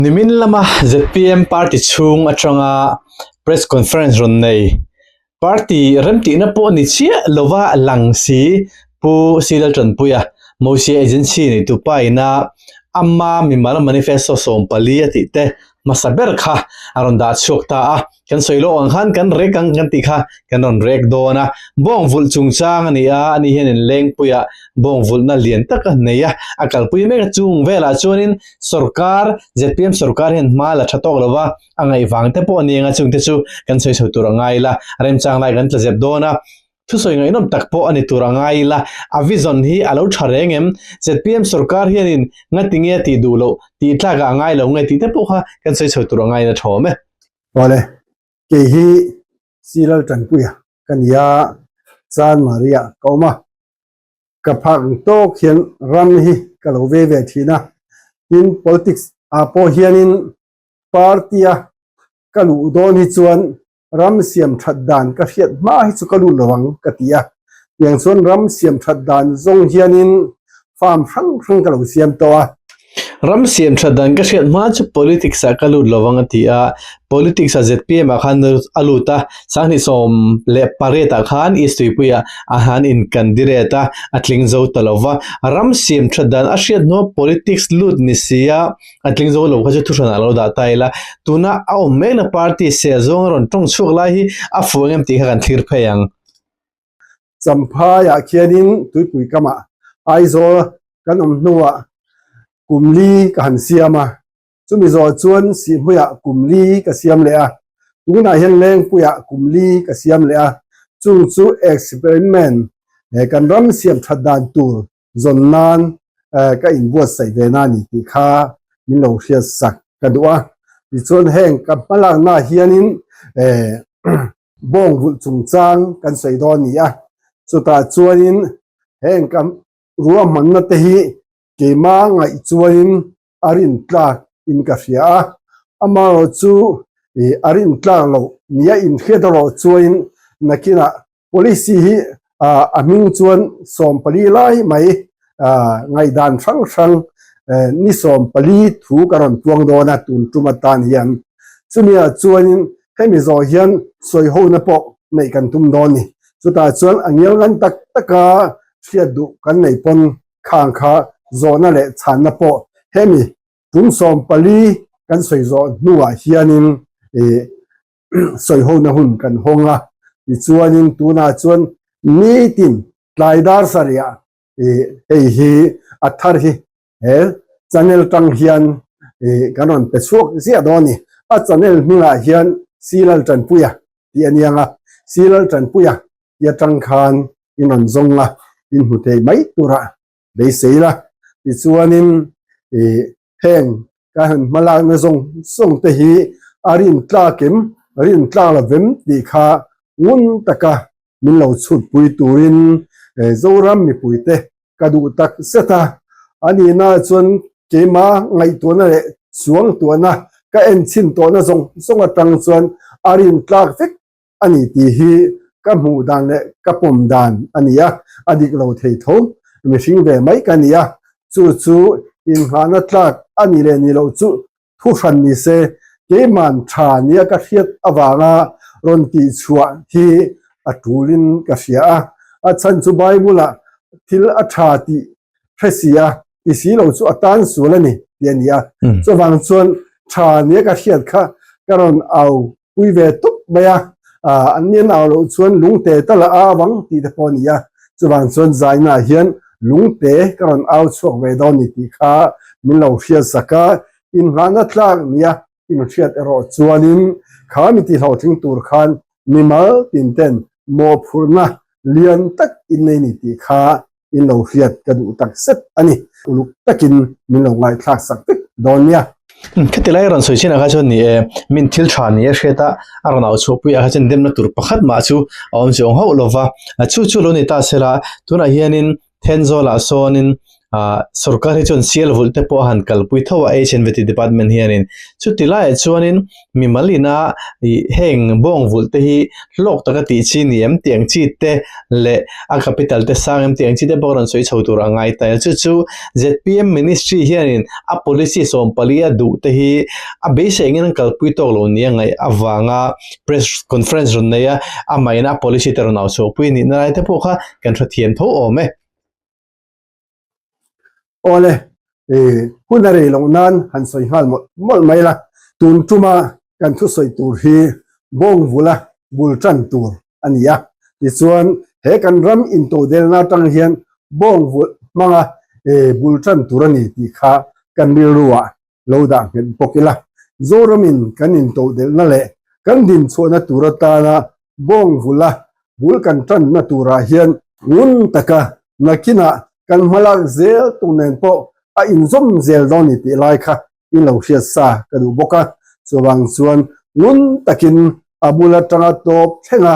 Nimin lama zpm party chhung atanga press conference rawn nei. Party remtihna pawh ni chiah lova lang si Pu Sri Laltanpuia, Mosia Agency neitu pa ina Amma Mimal Manifesto sawmpali a tih te hmasa ber kha a rawn dah chhuak ta a. kan sawi lawk ang khan kan rek ang kan tih kha kan rawn rek dawn a bawng vulh chung chang a ni a a ni hian in lengpui a bawng vulh na lian tak a nei a a kalpui mek a chung vel ah chuan in sawrkar zpm sawrkar hian hma la tha tawk lo va a ngaih vang te pawh a ni ang a chung te chu kan sawi chho tur a ngai la remchang lai kan tla zep dawn a Thusawi ngaihnawm tak pawh a ni tur a ngai ila, a vision hi a lo tha reng em? Zpm sorkar hianin ngatinge tih duh loh, tih tlakah a ngai lo nge tih te pawh kha kan sawi chho tur a ngain a thawm e. Awle, kei hi Sri Laltanpuia ka ni a, Chan Maria ka awm a, ka phak ang tawk hian ram hi ka lo ve ve thin a, tin politics ah pawh hianin party a ka luh dawn hi chuan ram siam that dan ka hriat hma hi chu ka lut lovang ka ti a, tiang chuan ram siam that dan zawng hianin farm hrang hrang ka lo siam tawh a. Ram siam that dan ka hriat hma chu politics ah ka lut lovang a ti a, politics ah zpm ah khan a lut a, sanghnih sawm leh paret ah khan East Tuipui ah a han in candidate a, a tling zo ta lova, ram siam that dan a hriat hnuah politics lut ni sia, a tling zo lo kha chu thuhran ah a lo dah ta ila tuna a awm mek na party seh zawnga rawn tawng chhuak lai hi a fuh ang em tih kha kan thlir phei ang. Champhaiah khianin tuipui kam ah Aizawl kan awm hnu ah kum li ka han siam a, chumi zawh chuan Sihmui ah kum li ka siam leh a, tun ah hian Lengpui ah kum li ka siam leh a, chung chu experiment kan ram siam that dan tur Zawn nan ka in buatsaih ve na ni tih kha min lo hriat sak ka duh a, tichuan heng ka hma lak na hianin bawng vulh chung chang kan sawi dawn a ni a, chutah chuanin heng ka ruahmanna te hi keima ngaih chuanin a rin tlak in ka hria a, amaherawh chu ih a rin tlak loh nih a in hriat erawh chuain nakinah policy hi ah a hming chuan sawm pali lai mai ah ngaihdan hrang hrang eh ni sawm pali thu ka rawn puang dawn a tun tum atan hian chumiah chuanin hemi zawh hian sawi hona pawh neih kan tum dawn ni chutah chuan a ngial ngan tak taka hriat duh kan nei pawn khang kha zawhna leh chhanna pawh hemi tum sawm pali kan sawi zawh hnungah hianin ih sawi hona hun kan hawng a. Tichuanin tunah chuan nitin tlai dar sa lehah ih hei hi a thar hi he channel tang hian ih kan rawn pe chhuak ziah dawn a ni. A channel hmingah hian Silaltanpuia tih a niang a, Silaltanpuia i atang khan i rawn zawng a, i hmu thei mai tur a beisei la. Tichuanin ih heng ka han hmalakna zawng zawng te hi a rin tlak em a rin tlak lo vem tih kha ngun taka min lo chhutpui turin eh Zoram mipuite ka duh tak zet a. A nihna ah chuan keima ngaihtuahna leh chuangtuahna ka en chhin tawhna zawng zawng atang chuan a rin tlak vek a ni tih hi ka hmuh dan leh ka pawm dan a ni a, a dik lo thei tho, mihring ve mai ka nia, chu chu inngahna tlak a ni leh ni loh chu thu hran ni se, keiman tha nia ka hriat avanga rawn tih chhuah hi a tulin ka hria a, a chhan chu Bible-ah thil a tha tih hre si a, ti si lo chu a tan sual a ni tih a ni a, chuvang chuan tha nia ka hriat kha ka rawn au pui ve tup mai a, ah an mian au loh chuan lungte ta la a vang tih te pawh a ni a, chuvang chuan zaina ah hian lungte ka rawn au chhuak ve dawn ni tih kha min lo hriat sak a, inhngahna tlak ni a inhriat erawh chuanin kha mi tihhlauhtling tur khan mimal tin ten mawhphurhna lian tak in nei ni tih kha in lo hriat ka duh tak zet a ni. Uluk takin min lo ngaihthlak sak vek dawn nia. Khati lai rawn sawi chinah kha chuan ni e, min thil tha ni a hriat a, a rawn au chhuah puiah kha chuan demna tur pakhat mah chu a awm chiang hauh lo va, chu chu lo ni ta se la, tunah hianin Thenzawlah sawnin sorkar hi chuan sialvulh te pawh a han kalpui tho a, HNVT department hianin, chuti laiah chuanin, Mimal ina heng bawng vulh te hi hlawk taka tih chi ni em tih ang chi te leh a capital te sang em tih ang chi te pawh rawn sawi chho tur a ngai ta. Chu chu zpm ministry hianin a policy sawm pali a duh te hi a beisei angin an kalpui tawk lo nia ngaih avanga press conference rawn nei a, amaheina a policy te rawn au chhuahpui a nihna lai te pawh kha kan hrethiam tho awm e. Awle, ih, hun a rei loh nan han sawi nghal mawlh mawlh mai la, tun tuma kan thu sawi tur hi bawng vula bul tan tur a ni a. Tichuan, he kan ram intodelna atang hian bawng vulh hmanga, ih, bul tan tur a ni tih kha kan rilru ah lo dah nghet bawk ila, Zoramin kan intohdelhna leh kan dinchhuahna tur atana bawng vula bul kan tanna turah hian, ngun taka nakinah kan hmalak zel tur nen pawh a inzawm zel dawn ni tih lai kha i lo hriat sa ka duh bawk a, chuvang chuan ngun takin a bul atanga tawp thlenga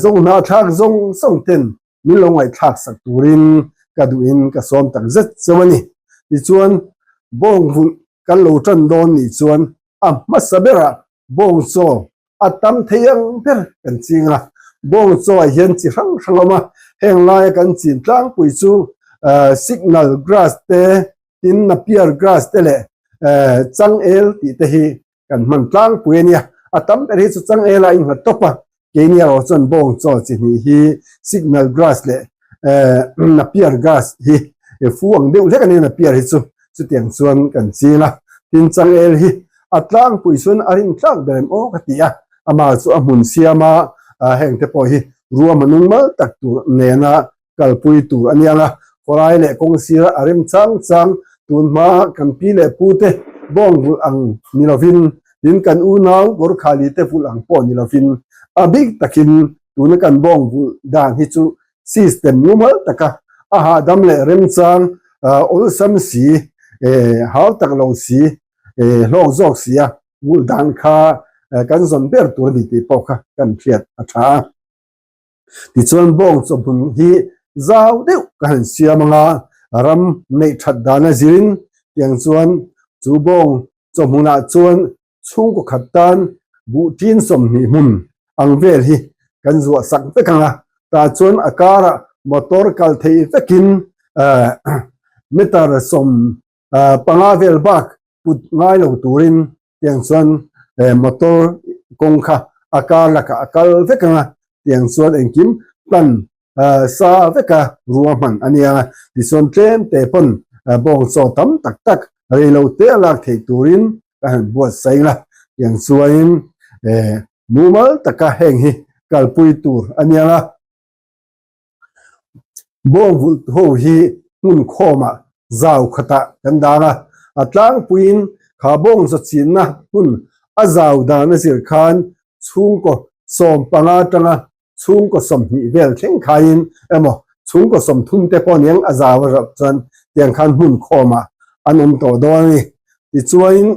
zawng hnah thlak zawng zawng ten min lo ngaihthlak sak turin ka duhin ka sawm tak zet chauh a ni. Tichuan, bawng vulh kan lo tan dawn nih chuan a hmasa berah bawng chaw a tam thei ang ber kan ching a. Bawng chawah hian chi hrang hrang a awm a, heng laia kan chin tlangpui chu signal grass te, tin napier grass te leh changel tih te hi kan hman tlangpui a nia. A tam ber hi chu changela in nghat tawp a, keini erawh chuan bawng chawl chi hnih hi signal grass leh ehh napier grass hi fu ang deuh hlek a nia napier hi chu, chutiang chuan kan ching a. Tin, changel hi a tlangpui chuan a rin tlak ber em awk a ti a, amah chu a hmun siama hengte pawh hi ruama nungmal tak tur nena kalpui tur a niang a, khawlai leh kawng sira a rem chang chang. Tun hmaa kan pi leh pu te bawng vulh ang ni lovin, tin kan unau Gorkhali te vulh ang pawh ni lovin, a bik takin tuna kan bawng vulh dan hi chu system mumal taka a hahdam leh remchang awlsam si, hau tak lo si, hlawk zawk sia vulh dan kha kan zawn ber tur a ni tih pawh kha kan hriat a tha a. Tichuan bawng chawhmun hi zau deuh ka han siam anga ram neih that dan a zin tiang chuan chu bawng chawhmunah chuan chhungkaw khat tan buhtin sawmhnih hmun ang vel hi kan zuah sak vek anga tah chuan a karah motor kal thei vekin meter sawm ah panga vel bak put ngai lo turin tiang chuan eh motor kawng kha a kar lakah a kal vek ang a, tiang chuan engkim hlan ah sa veka rua hman a niang a, tichuan tlêmte pawn bawng chaw tam tak tak reilo te a lak theih turin ka han buatsaih ila, tiang chuanin eh mumal taka heng hi kalpui tur a niang a. Bawng vulhtu ho hi hmun khawmah zau khatah kan dan a, a tlangpuiin kha bawng zachianna hmun a zau dan a zir khan chhungkaw sawm panga tanga chhungkaw sawmhnih vel thleng khaiin emaw chhungkaw sawm thumte pawh nen a zau a rawh chuan tiang khan hmun khawmah an awm tawh dawn a ni. Tichuanin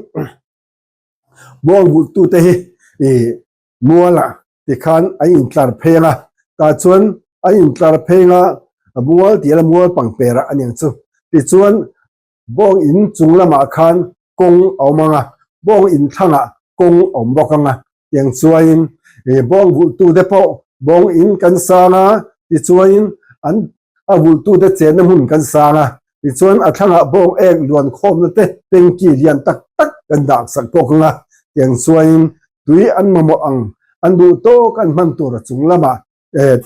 bawng vulhtute hi ih Muala ti khan an intlar pheng a, tah chuan an intlar pheng a, mual tih la mual pangpera a ning chu. Tichuan bawng in chung lamah khan kawng a awm ang a, bawng in thlangah kawng a awm bawk ang a, tiang chuaiin ih bawng vultu te pawh bawng in kan sang a, tichuanin an a vultu te chenna hmun kan sang a, Tichuan, a thlangah bawng êng luan khâwmna te, tanki lian tak tak kan dah sak pawh ka nga. Tiang chuaiin, tui an mamawh ang, an duh tâwk an hman tûra chung lama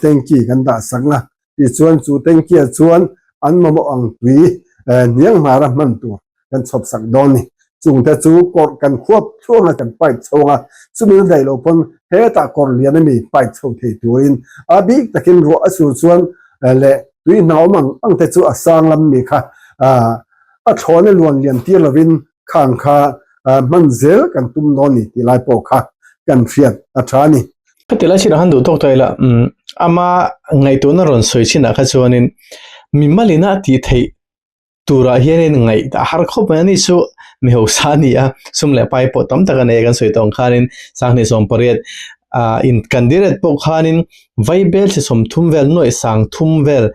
tanki kan dah sak nga. Tichuan, chu tanki-a chuan an mamawh ang tui hniang nghara hman tûr kan chhawp sak dâwn a ni. Chung te chu kawr kan khuap thluak na kan pipe chhawng a, chumi la daih lo pawn hetah kawr lian a mi pipe chho thei turin a bik takin ruah a sur chuan leh tui hna awm ang ang te chu a sang lam mi kha a thlawn a luan liam tir lovin khang kha hman zel kan tum dawn ni tih lai pawh kha kan hriat a tha a ni. Heti lai chinah khan duh tawk tawh ila umm ama ngaihtuahna rawn sawi chinah kha chuanin mi malina tih theih Turah hian in ngaih ta har khawp mai a ni suh, mi hausa a ni a, sum leh pai pawh tam tak a nei a kan sawi tawng khanin Sanghnih sawmpariat ah in kan dil ret pawh khanin Vaibel thisawm thum vel nuaih sang thum vel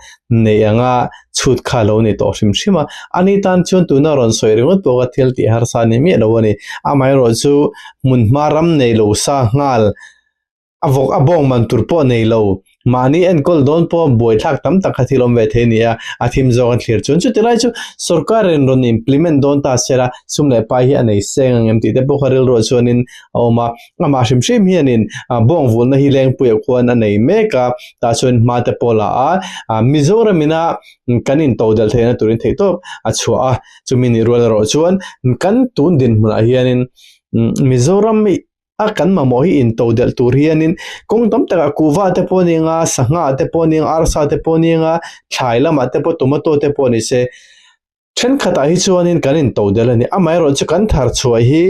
neih ang a chhut kha a lo nei tawh hrim hrim a, ani tan chuan tuna a rawn sawi ringawt pawh ka thil tih harsa a ni miah lo a ni, amaherawhchu hmunhma ram nei lo sa nghal A vawk a bawng man tur pawh nei lo. Mahni enkawl dawn pawh buai thlak tam tak kha thil awm ve thei a ni a, a thim zawk a thlir chuan chuti lai chu sorkar in rawn implement dawn ta sela sum leh pai hi a nei seng ang em tih te pawh kha rilruah chuanin a awm a. Amah hrim hrim hianin bawng vulna hi Lengpuiah khuan a nei mek a, tah chuan hma te pawh la a, Mizoram ina kan in to delh theihna turin theih tawp a chhuah a. Chumi nih rual erawh chuan kan tun dinhmunah hianin Mizoram a kan mamawh hi intoh delh tur hianin kawng tam takah kuhva te pawh a ning a sangha te pawh a ning a arsa te pawh a ning a thlai lamah te pawh tomato te pawh ni se thenkhatah hi chuanin kan intoh delh a ni amaherawh chu kan thar chhuah hi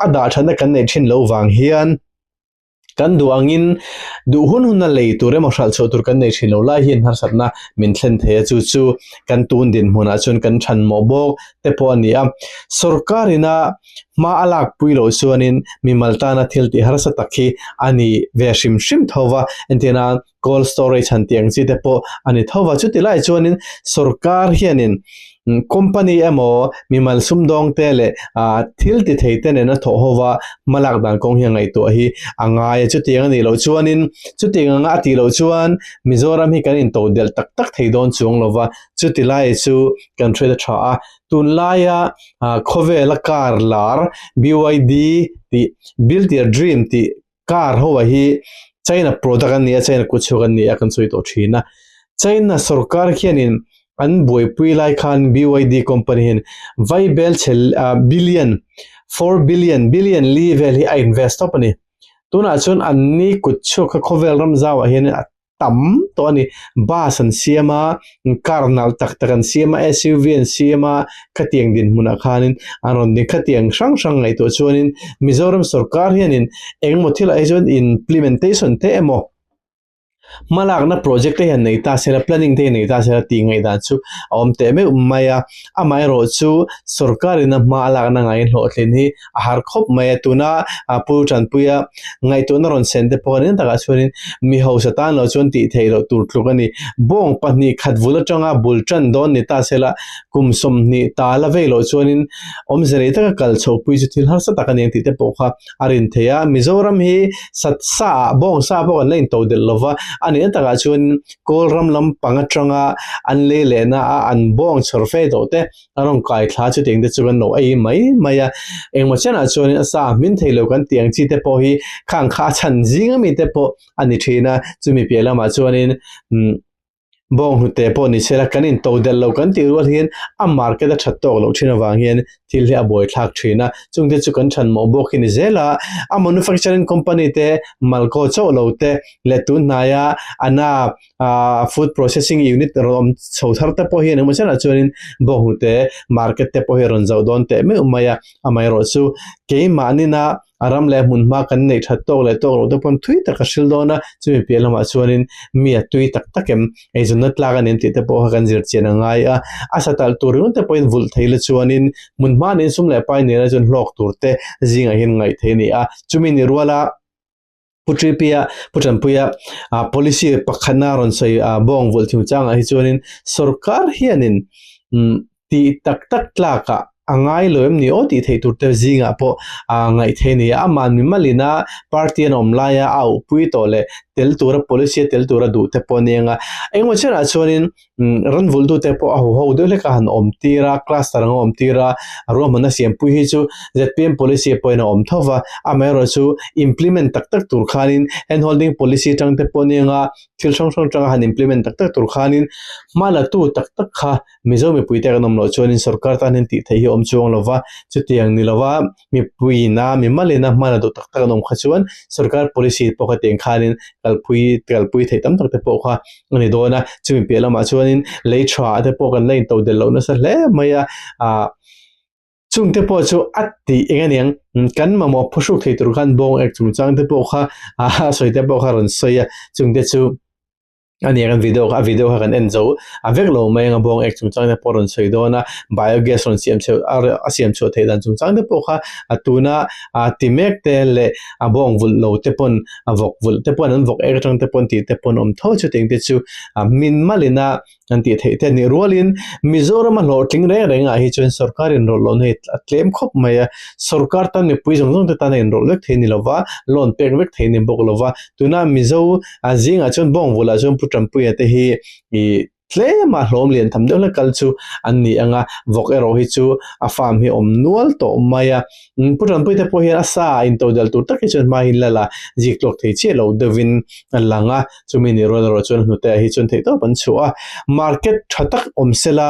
a dah thatna kan neih thin loh vang hian kan duh angin duh hun huna lei tur emaw hralh chhuah tur kan nei thin loh lai hian harsat na min thlen thei a chu chu kan tun dinhmun ah chuan kan than mawh bawk te pawh a ni a sorkar ina Hma a lak pui loh chuanin mimal tana thil tih harsa tak hi a ni ve hrim hrim tho va, entirna cold storage han tih ang chi te pawh a ni tho va. Chuti lai chuanin sorkar hianin company emaw mimal sumdawng te leh thil ti thei te nen a thawh ho va, hma lak dan kawng hi a ngaihtuah hi a ngai a. Chuti ang a nih loh chuanin, chuti ang a tih loh chuan Mizoram hi kan intoh delh tak tak thei dawn chu ang lo va, chuti lai chu kan hriat a tha a. Tunlaia khawvela car lar BYD tih Build-Your Dream tih car ho a hi China product an ni a, China kut chhuk an ni a kan sawi tawh thin a. China sawrkar hianin an buaipui lai khan BYD company hian vai bel chhe billion, four billion, billion li vel hi a invest tawp a ni. Tunah chuan an ni kut chhuk kha khawvel ram zau ah hianin a tam tawh a ni bus an siam a car nalh tak tak an siam a suv an siam a khatiang dinhmunah khanin an rawn ni khati ang hrang hrang ngaih tawh chuanin mizoram sawrkar hianin engemaw thil ah hi chuan implementation te emaw hma lakna project te hi an nei ta se la planning te hi an nei ta se la tih ngaih dan chu a awm teh meuh mai a amaherawhchu sawrkarin a hma a lakna ngaihhlawhthlin hi-- a har khawp mai a tuna a pu tanpuia ngaihtuahna rawn sen te pawh eng takah chuanin mi hausa tan lo chuan tih theih loh tur tluk a ni bawng pahnih khat vul atanga bul tan dawn ni ta sela kum sawmhnih ta la vei loh chuanin awmze rei taka kal chhohpui chu thil harsa tak a ni ang tih te pawh kha a rin thei a Mizoram hi satsa ah bawng sa pawh an la into delh lo va a nihna takah chuan Kawlram lam pang atanga an lei lehna a an bawng chhawr fei tawh te A rawn kai thla chutiang te chu kan lo ei mai mai a, engmaw chianah chuan a sa hmin thei lo kan tiang chi te pawh hi khang kha a chhan zing a mi te pawh a ni thin a, chumi piah lamah chuanin umm bawng hnute pawh ni sela kan in to delh lo kan tih rual hian a market a that tawk loh thin avang hian thil hi a buai thlak thin a, chungte chu kan chhan mawh bawk hi ni zel a, a manufacturing company te mal kaw chauh lo te leh tunhnai a ana ahh food processing unit a rawn awm chho thar te pawh hian engmah zatah chuanin bawnghnute te market te pawh hi a rawn zauh dawn teh meuh mai a amaherawh chu keimahnina a ram leh a hmun hma kan neih that tawk leh tawk loh te pawh thui taka hrilh dawn a chumi piah lamah chuanin mi a tui tak tak em eizawnna tlak a ni ang tih te pawh kan zir chian a ngai a a satalh tur eng te pawhin vulh theih la chuanin hmun hma nen sum leh pai nena chuan hlawk tur te zingah hian ngaih theih a ni a chumi ni rual a. Pu Tri Pia, Pu Tanpuia policy pakhatna rawn sawi bawng vulh thung changah hi chuanin sorkar hianin tih tak tak tlakah a ngai lo em ni aw tih theih tur te zingah pawh aa ngaih thei a ni a, aman mimalina party an awm laia a upui tawh leh tel tura policy a tel tura duh te pawh a ni ang a, engemaw chiahah chuanin Ran vultute pawh a huho deuh hlek a han awm tir a, class ta rang a awm tir a, a ruahmanna siampui hi chu zpm policy a pawhin a awm tho va, amaherawhchu chu implement tak tak tur khanin handholding policy atang te pawh ni ang a, thil hrang hrang atanga han implement tak tak tur khanin hma latu tak tak kha Mizo mipuite kan awm loh chuanin sorkar tan hian tih theih hi awm chu a awm lo va, chutiang ni lo va. mipuiin a mi mal ina hman a duh tak tak an awm kha chuan sorkar policy pawh ka tiang khanin kalpui kalpui theih tam tak te pawh kha a ni dawn a chumi piah lamah chuanin lei tha te pawh kan la intoh del loh nasa hle mai a ah chung te pawh chu a ti eng a niang kan mamawh phu hruk thei tur khan bawng ek chungchang te pawh kha ah sawi te pawh kha rawn sawi a chungte chu. a nia kan video kha a video kha kan en zo a vek lo mai anga bawng ek chung chang te pawh rawn sawi dawn a bio gas rawn siam cheu a a siam chhuah theih dan chung chang te pawh kha a tuna a ti mek te leh a bawng vulh lo te pawn a vawk vulh te pawn an vawk ek atang te pawn tih te pawn awm tho chu tengte chu a hmin mal in a kan tih theih te a nih rual in Mizoram a hlawhtling reng reng ah hi chuan sorkar inrawlh loh na hi a tlem khawp mai a sorkar tan mipui zawng zawng te tan a inrawlh vek thei a ni lo va loan pek vek thei a ni bawk lo va tuna Mizo a zingah chuan bawngvulhah chuan pu tanpuia te hi ih tlem a hlawm lian tham deuh hlek kal chu an ni ang a vawk erawh hi chu a farm hi awm nual tawh mai a pu tanpuia te pawh hian a sa a into dal tur takte chuan hmai in la la zik tluak thei chiah loh deuh in a lang a chumi nih rawn erawh chuan a hnute ah hi chuan theih tawp an chhuah a market tha tak awm se la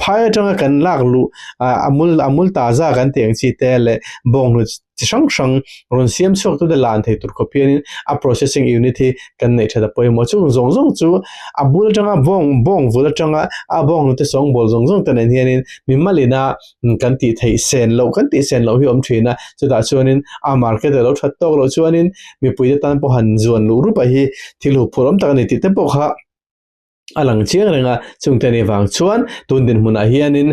phai atanga kan lak luh ah a mul a mul ta zak an tih ang chi te leh bawnghnut-- chi hrang hrang rawn siam chhuak tu te lah an thei tur khawp hian in a processing unit hi kan neih tha ta pawh hi maw chung zawng zawng chu a bul atanga bawng bawng vul atanga a bawng hnute sawng bawl zawng zawng te nen hian in mi malina kan tih theih sen loh kan tih sen loh hi awm thin a chutah chuan in a market a lo that tawk loh chuan in mipui te tan pawh han zuan luh rup a hi thil huk phurh awm tak a ni tih te pawh kha a lang chiang reng a, chungte nih vang chuan tun dinhmunah hianin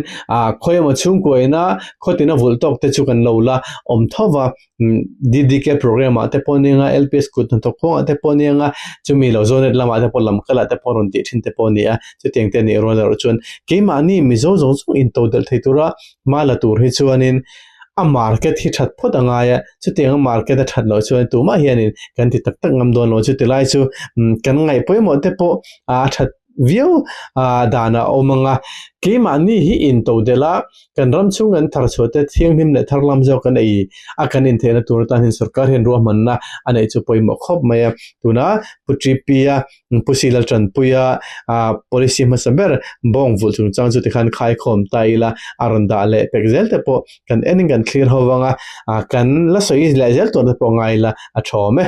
khawi emaw chhungkua ina khaw tina vulh tawk te chu kan lo la awm tho va, ddk programme ah te pawh ni anga lps kut hnathawk khuang ah te pawh ni anga chumi lo zonate lam ah te pawh lam kal ah te pawh rawn tih thin te pawh ni a, chutiang te nih rual erawh chuan keimahni mizo zawng zawng in todelh thei tura hma la tur hi chuanin. A market hi that phawt a ngai a, chuti anga market a that loh chuan tumah hianin kan ti tak tak ngam dawn lo chuti lai chu kan ngaih pawimawh te pawh a that viau a dan a awm ang a. Keimah ni hi in to del a, kan ram chhung kan thar chhuah te thianghlim leh thar lam zawk kan ei a kan in theihna tur atan hin sorkar hian ruahmanna a neih chu pawimawh khawp mai a, tuna Pu Ṭi Pia npu si la tanpui a, ah policy hmasa ber bawng vulh chungchang chu tikhan khaikhawm ta ila a rawn dah leh pek zel te pawh kan enin kan thlir ho vang a, ah kan la sawi leh zel tawh na pawh ngai ila a thawm e.